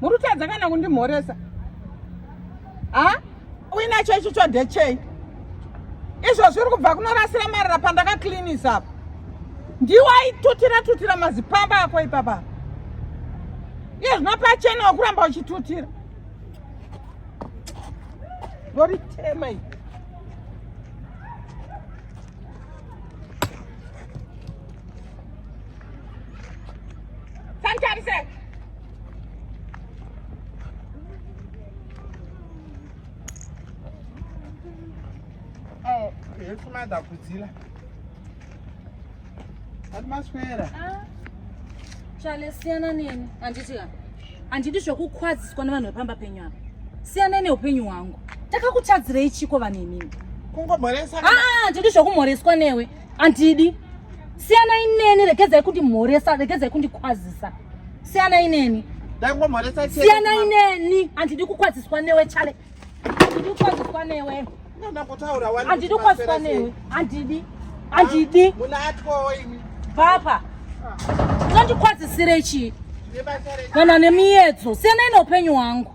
muri kutadza kana kundimhoresa ha uinacho icho chodechei izvo zviri kubva kunorasira marara pandakaklinisa apo ndiwo aitutira tutira mazipamba ako ipapa iye zvino pachena wakuramba uchitutira voritema i Yefumada kudzila. Atmaswera. Ah. Chale siyana nini? Anditi kana. Anditi zvekukwadziswa nevanhu vepamba penyu apa. Siyana neupenyu hwangu. Takakutadzirei chiko vanhu imimi? Kungomhoresa. Ah, anditi zvekumhoreswa newe. andidi siyana ineni regedzai kundimhoresa regedzai kundikwazisa siyana ineni siyana ineni andidi kukwaziswa newe chale andidi kukwaziswa newe andidi kukwaziswa newe andidi andidi papa unondikwazisirei chii kana nemiyedzo siyana ineupenyu hwangu